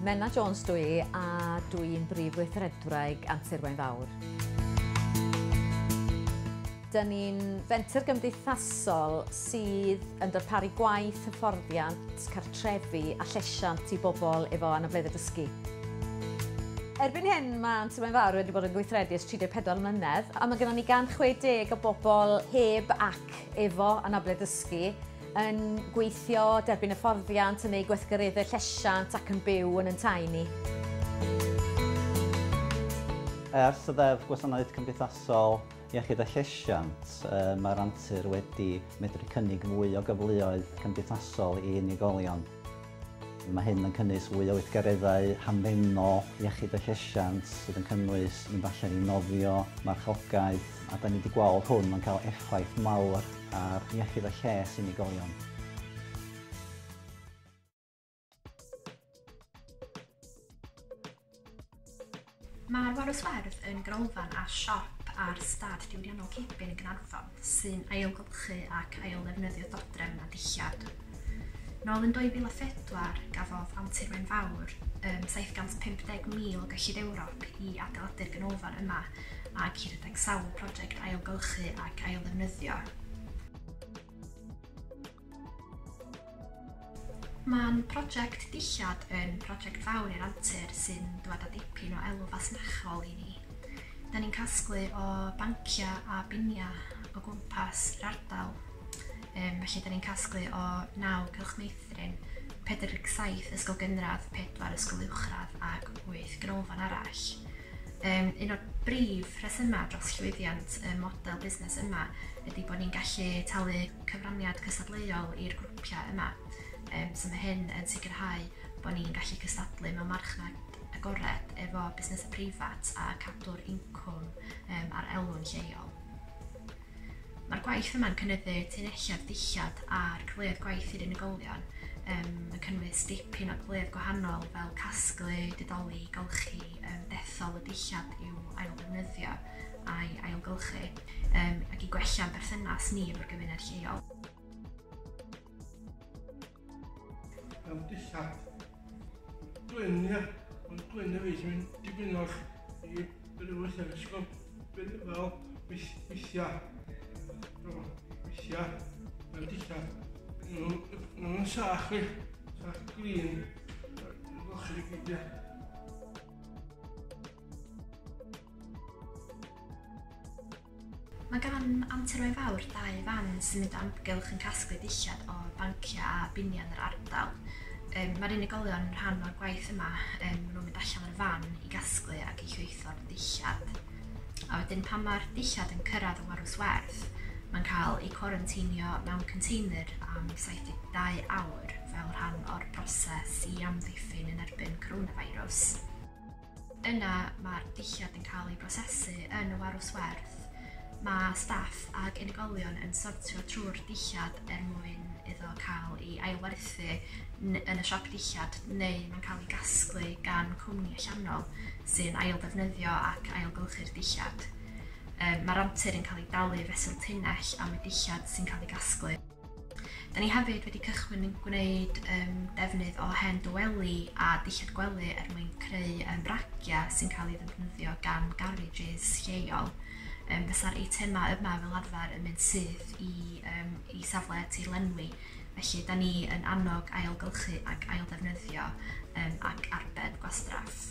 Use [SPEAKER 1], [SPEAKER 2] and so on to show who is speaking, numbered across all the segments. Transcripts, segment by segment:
[SPEAKER 1] Menna Jones dwi i a dwi i'n brif weithredwraig Antur Wain Fawr. Dyn ni'n fenter gymdeithasol sydd yn darparu gwaith, hyfforddiant, cartrefi, trefi a llesiant i bobl efo anableddau dysgu. Erbyn hyn, mae Anti Mae'n Fawr wedi bod yn gweithredu ers 34 mlynedd, a mae gennym ni 160 o bobl heb ac efo anabledd dysgu yn gweithio, derbyn hyfforddiant, yn eu gweithgareddau llesiant ac yn byw yn yn tai ni.
[SPEAKER 2] Ers y Ddeddf Gwasanaeth Cymdeithasol Iechyd a Llesiant, mae'r antur wedi medru cynnig mwy o gyfleoedd cymdeithasol i unigolion. Mae hyn yn cynnwys fwy o weithgareddau hamddenol iechyd a llesiant sydd yn cynnwys mynd allan i nofio, marchogaeth, a da ni wedi gweld hwn yn cael effaith mawr ar iechyd a lles unigolion.
[SPEAKER 3] Mae'r Warws Werdd yn ganolfan a siop ar stad diwydiannol Cebyn yn Gaernarfon sy'n ailgylchu ac ailddefnyddio dodrefn a dillad. Nôl yn 2004, gafodd Antur Wen Fawr um, 750,000 o gyllid Ewrop i adeiladu'r ganolfan yma ac i redeg sawl prosiect ailgylchu ac ailddefnyddio. Mae'n prosiect dillad yn prosiect fawr i'r antur sy'n dwad â dipyn o elw fasnachol i ni. Da ni'n casglu o banciau a biniau o gwmpas yr ardal. Um, felly, da ni'n casglu o 9 cylch meithrin, 47 ysgol gynradd, 4 ysgol uwchradd ac 8 ganolfan arall. Um, un o'r brif rhesymau dros llwyddiant y model busnes yma ydy bod ni'n gallu talu cyfraniad cystadleuol i'r grwpiau yma, yym so mae hyn yn sicrhau bod ni'n gallu cystadlu mewn marchnad agored efo busnesau preifat a cadw'r incwm um, a'r elwyn lleol. Mae'r gwaith yma'n cynyddu tunnelliad dillad a'r cyfleoedd gwaith i'r unigolion um, yn cynnwys dipyn o gyfleoedd gwahanol fel casglu, didoli, golchi, um, dethol y dillad i'w ailddefnyddio a'i ailgylchu. um, ac i gwella'n berthynas ni efo'r gymuned lleol.
[SPEAKER 4] Am dillad. Gwynia, ond gwynia fi sy'n mynd dipyn o'r i rhywbeth yr ysgol. Fel weithiau. Weithiau. Fel dillad. Nhw'n sach fi. Sach glin. Gwch chi gyd, ia.
[SPEAKER 3] Mae gan anturau fawr dau fan symud o amgylch yn casglu dillad o banciau a biniau yn yr ardal. Mae'r unigolion yn rhan o'r gwaith yma, maen nhw'n mynd allan ar y fan i gasglu ac i chwytho'r dillad. A wedyn pan mae'r dillad yn cyrraedd y warws werdd, mae'n cael ei cwaranteinio mewn container am 72 awr fel rhan o'r broses i amddiffyn yn erbyn coronavirus. Yna mae'r dulliau yn cael eu prosesu yn y warws werth. Mae staff ac unigolion yn sortio trwy'r dillad er mwyn iddo cael ei ailwerthu yn y siop dillad neu mae'n cael ei gasglu gan cwmni allanol sy'n ailddefnyddio ac ailgylchu'r dillad. Mae'r antur yn cael ei dalu fesul tunnell am y dillad sy'n cael ei gasglu. Da ni hefyd wedi cychwyn yn gwneud um, defnydd o hen dyweli a dillad gwely er mwyn creu um, bragia sy'n cael ei ddefnyddio gan garages lleol. Um, Fysa'r eitemau yma fel arfer yn mynd syth i, um, i safle tir lenwi, felly da ni yn annog ailgylchu ac ailddefnyddio um, ac arbed gwastraff.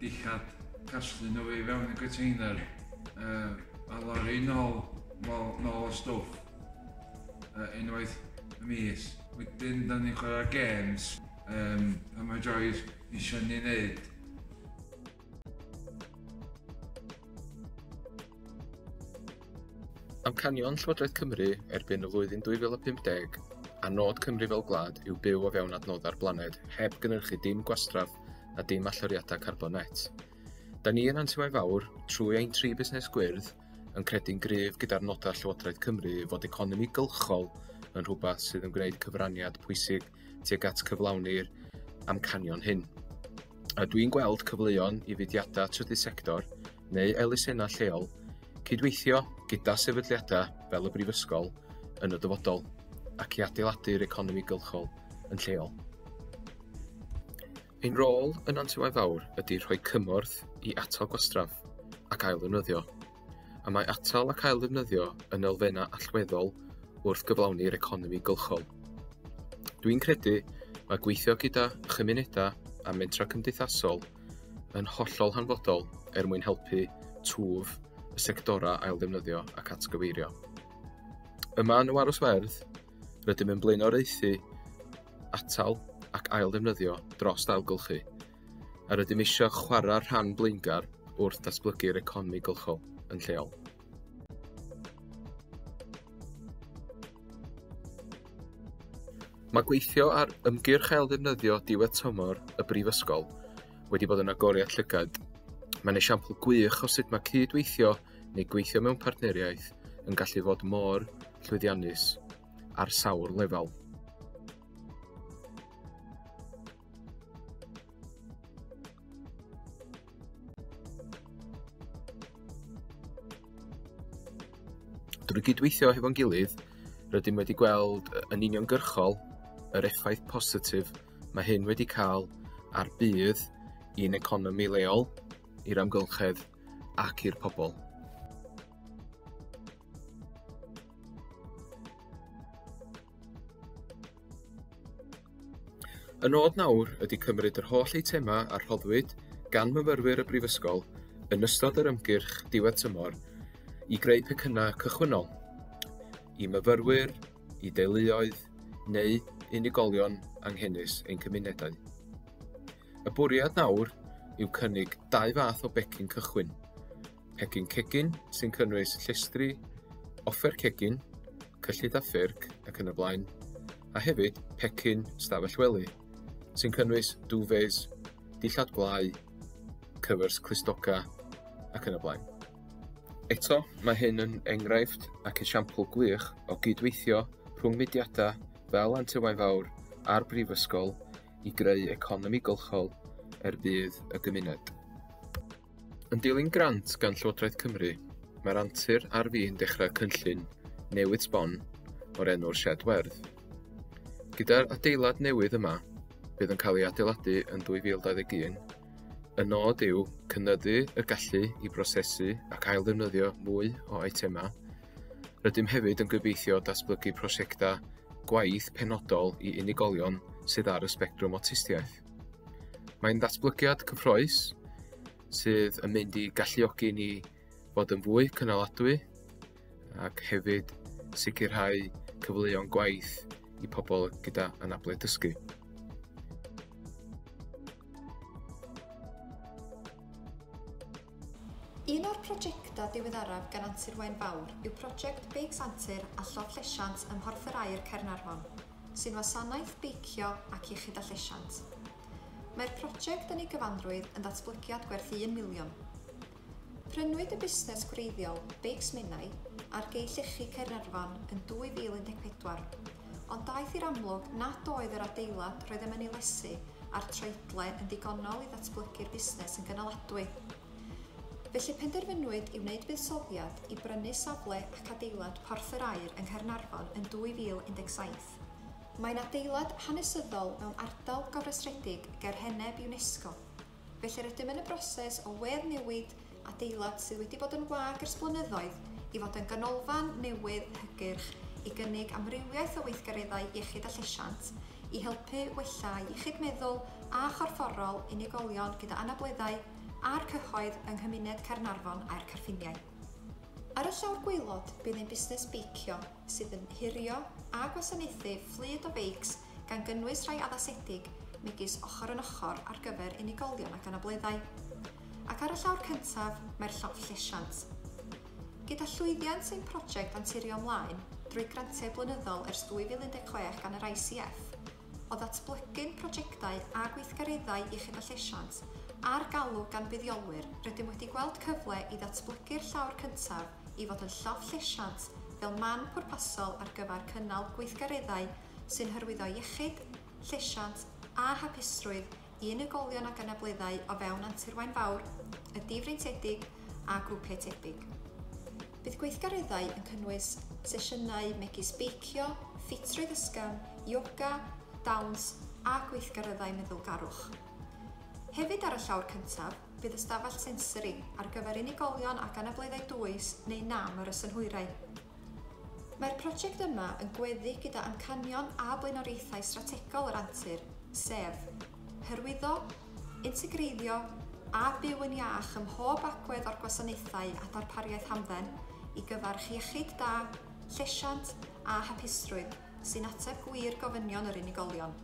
[SPEAKER 5] Dillad casglu nhw i fewn y container uh, a lori nôl, nôl, nôl y stwff uh, unwaith y mis. Wedyn, da ni'n chwarae games um, pan mae Joyce eisiau ni wneud
[SPEAKER 6] Amcanion Llywodraeth Cymru erbyn y flwyddyn 2050 a nod Cymru fel gwlad yw byw o fewn adnoddau'r blaned heb gynhyrchu dim gwastraff a dim allyriadau carbon net. Da ni yn Antiwau Fawr, trwy ein tri busnes gwyrdd, yn credu'n gryf gyda'r nodau Llywodraeth Cymru fod economi gylchol yn rhywbeth sydd yn gwneud cyfraniad pwysig tuag at cyflawni'r amcanion hyn. A dwi'n gweld cyfleoedd i fudiadau trydydd sector neu elusennau lleol cydweithio gyda sefydliadau fel y Brifysgol yn y dyfodol ac i adeiladu'r economi gylchol yn lleol. Ein rôl yn Antiwaith Fawr ydy rhoi cymorth i atal gwastraff ac ailddefnyddio. y mae atal ac ailddefnyddio yn elfennau allweddol wrth gyflawni'r economi gylchol. Dwi'n credu mae gweithio gyda chymunedau a mentra cymdeithasol yn hollol hanfodol er mwyn helpu twf y sectorau ailddefnyddio ac atgyfeirio. Yma yn y Warws Werdd, rydym yn blaenoriaethu atal ac ailddefnyddio dros ailgylchu a rydym eisiau chwarae rhan blaengar wrth ddatblygu'r economi gylchol yn lleol. Mae gweithio ar ymgyrch ail ddefnyddio diwedd tymor y Brifysgol wedi bod yn agoriad llygad. Mae'n esiampl gwych o sut mae cyd-weithio neu gweithio mewn partneriaeth yn gallu fod mor llwyddiannus ar sawl lefel. Drwy gydweithio hefo'n gilydd, rydym wedi gweld yn uniongyrchol yr effaith positif mae hyn wedi cael ar budd i'n economi leol, i'r amgylchedd ac i'r pobl. Y nod nawr ydy cymryd yr holl eitemau a rhoddwyd gan myfyrwyr y Brifysgol yn ystod yr ymgyrch diwedd tymor i greu pecynnau cychwynnol i myfyrwyr, i deuluoedd neu unigolion anghenus ein cymunedau. Y bwriad nawr yw cynnig dau fath o becyn cychwyn, Pecyn cegin sy'n cynnwys llestri, offer cegin, cyllid a ffyrc ac yn y blaen, a hefyd pecyn stafell wely sy'n cynnwys duvets, dillad gwlau, cyfers clustoga ac yn y blaen. Eto, mae hyn yn enghraifft ac esiampl gwych o gydweithio rhwng mudiadau fel Antywain Fawr a'r Brifysgol i greu economi gylchol er budd y gymuned. Yn dilyn grant gan Llywodraeth Cymru, mae'r antur ar fin dechrau cynllun newid sbon o'r enw'r Shed Werdd. Gyda'r adeilad newydd yma, bydd yn cael ei adeiladu yn 2021, y nod yw cynnyddu y gallu i brosesu ac ailddefnyddio mwy o eitemau Rydym hefyd yn gobeithio datblygu prosiectau gwaith penodol i unigolion sydd ar y sbectrwm awtistiaeth. Mae'n ddatblygiad cyffroes sydd yn mynd i galluogi ni fod yn fwy cynaladwy ac hefyd sicrhau cyfleoedd gwaith i pobl gyda anabledd dysgu.
[SPEAKER 7] Un o'r projectau diweddaraf gan Antur Waun Fawr yw project Beics Antur a Llofft Llesiant ym Mhorthwr Aur Caernarfon, sy'n wasanaeth beicio ac iechyd a llesiant. Mae'r project yn ei gyfanrwydd yn ddatblygiad gwerth un miliwn. Prynwyd y busnes gwreiddiol, Beics Menai, ar Gei Llechi Caernarfon yn 2014. Ond daeth i'r amlwg nad oedd yr adeilad roeddem yn ei lesu a'r troedle yn ddigonol i ddatblygu'r busnes yn gynaladwy. Felly penderfynwyd i wneud buddsoddiad i brynu safle ac adeilad Porth yr Aur yng Nghaernarfon yn 2017. Mae'n adeilad hanesyddol mewn ardal gofrestredig ger heneb UNESCO. Felly rydym yn y broses o weddnewid adeilad sydd wedi bod yn wag ers blynyddoedd i fod yn ganolfan newydd hygyrch i gynnig amrywiaeth o weithgareddau iechyd a llesiant i helpu wella iechyd meddwl a chorfforol unigolion gyda anableddau a'r cyhoedd yng nghymuned Caernarfon a'r Carffiniau. Ar y llawr gwaelod bydd ein busnes beicio sydd yn hurio a gwasanaethu fflyd o feics gan gynnwys rhai addasedig, megis Ochr yn Ochr ar gyfer Unigolion ac Anableddau. Ac ar y llawr cyntaf, mae'r llofft llesiant. Gyda llwyddiant ein prosiect anturio ymlaen drwy grantiau blynyddol ers 2016 gan yr ICF, o ddatblygu'n prosiectau a gweithgareddau iechyd a llesiant ar galw gan fuddiolwyr, rydym wedi gweld cyfle i ddatblygu'r llawr cyntaf i fod yn llofft llesiant fel man pwrpasol ar gyfer cynnal gweithgareddau sy'n hyrwyddo iechyd, llesiant a hapusrwydd i unigolion ag anableddau o fewn Antur Waun Fawr, y Difreintiedig a grwpiau tebyg. Bydd gweithgareddau yn cynnwys sesiynau megis beicio, ffitrwydd ysgafn, ioga, dawns a gweithgareddau meddwlgarwch. Hefyd ar y llawr cyntaf, bydd ystafell sensori ar gyfer unigolion ag anableddau dwys neu nam ar y synhwyrau. Mae'r prosiect yma yn gweddu gyda amcanion a blaenoriaethau strategol yr antur, sef, hyrwyddo, integreiddio a byw yn iach ym mhob agwedd o'r gwasanaethau a darpariaeth hamdden i gyfarch iechyd da, llesiant a hapusrwydd sy'n ateb gwir gofynion yr unigolion.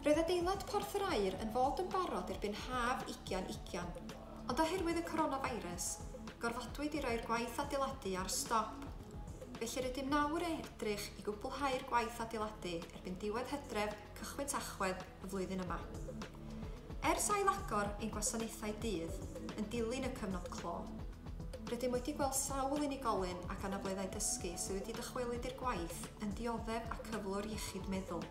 [SPEAKER 7] Roedd adeilad Porth yr Aur yn fod yn barod erbyn haf ugian ugian, ond oherwydd y coronavirus, gorfodwyd i roi'r gwaith adeiladu ar stop. Felly rydym nawr yn edrych i gwblhau'r gwaith adeiladu erbyn diwedd hydref, cychwyn tachwedd y flwyddyn yma. Ers ailagor ein gwasanaethau dydd yn dilyn y cyfnod clo, rydym wedi gweld sawl unigolyn ag anableddau dysgu sydd wedi dychwelyd i'r gwaith yn dioddef a cyflwr iechyd meddwl.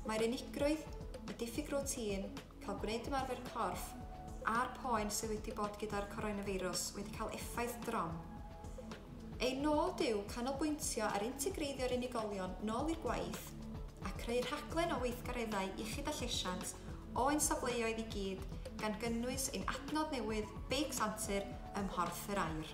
[SPEAKER 7] Mae'r unigrwydd, y diffyg rwtîn, cael gwneud ymarfer corff, a'r poen sydd wedi bod gyda'r coronafeirws wedi cael effaith drom. Ein nod yw canolbwyntio ar integreiddio'r unigolion nôl i'r gwaith a creu rhaglen o weithgareddau iechyd a llesiant o ein safleoedd i gyd gan gynnwys ein adnodd newydd Beics Antur ym Mhorth yr Aur.